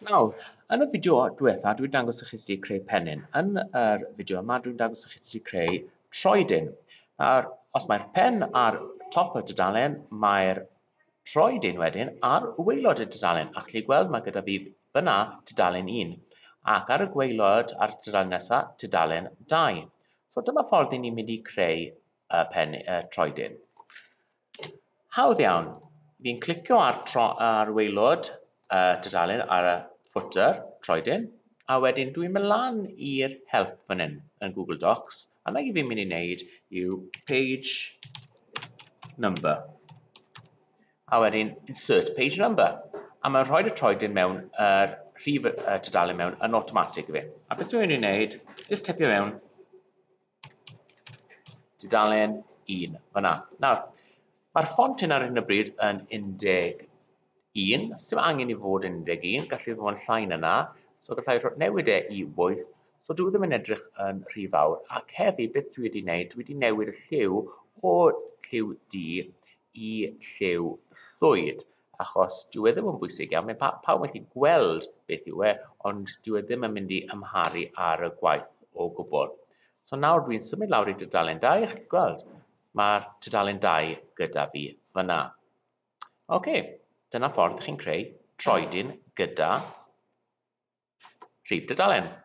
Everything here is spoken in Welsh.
Nawr, yn y fideo diwetha, dwi'n dangos i chi sut i creu pennyn. Yn yr fideo yma, dwi'n dangos i chi sut i creu troedyn. Nawr, os mae'r pen ar top y dudalen, mae'r troedyn wedyn ar waelod y dudalen. A chi gweld, mae gyda fi fyna dudalen 1. Ac ar y gwaelod, ar y dudalen nesaf, dudalen 2. So dyma ffordd i ni'n mynd i creu y pen, y troedyn. Hawdd iawn. Fi'n clicio ar tro ar waelod y uh, tudalen ar y footer, troedyn, a wedyn dwi'n mynd lan i'r help fan hyn yn Google Docs, a na i fi'n mynd i wneud yw page number, a wedyn insert page number, a mae'n rhoi y troedyn mewn yr uh, rhif y uh, tudalen mewn yn automatic i fi. A beth dwi'n mynd i wneud, jyst typio mewn Tudalen 1, fyna. Nawr, mae'r ffont hyn ar hyn o bryd yn 11, os dim angen i fod yn 11, gallu fod yn llai na na, so gallai newid e i 8, so dwi e ddim yn edrych yn rhy fawr, ac heddi beth dwi wedi wneud, dwi wedi newid y lliw o lliw du i lliw llwyd. achos dyw e ddim yn bwysig iawn, mae pa- pawb yn gallu gweld beth yw e, ond dyw e ddim yn mynd i ymharu ar y gwaith o gwbl. So nawr dwi'n symud lawr i dydalen 2, a chi'n gweld, mae'r dydalen 2 gyda fi fyna. Oce, okay, dyna ffordd chi'n creu troedyn gyda Rhif dudalen.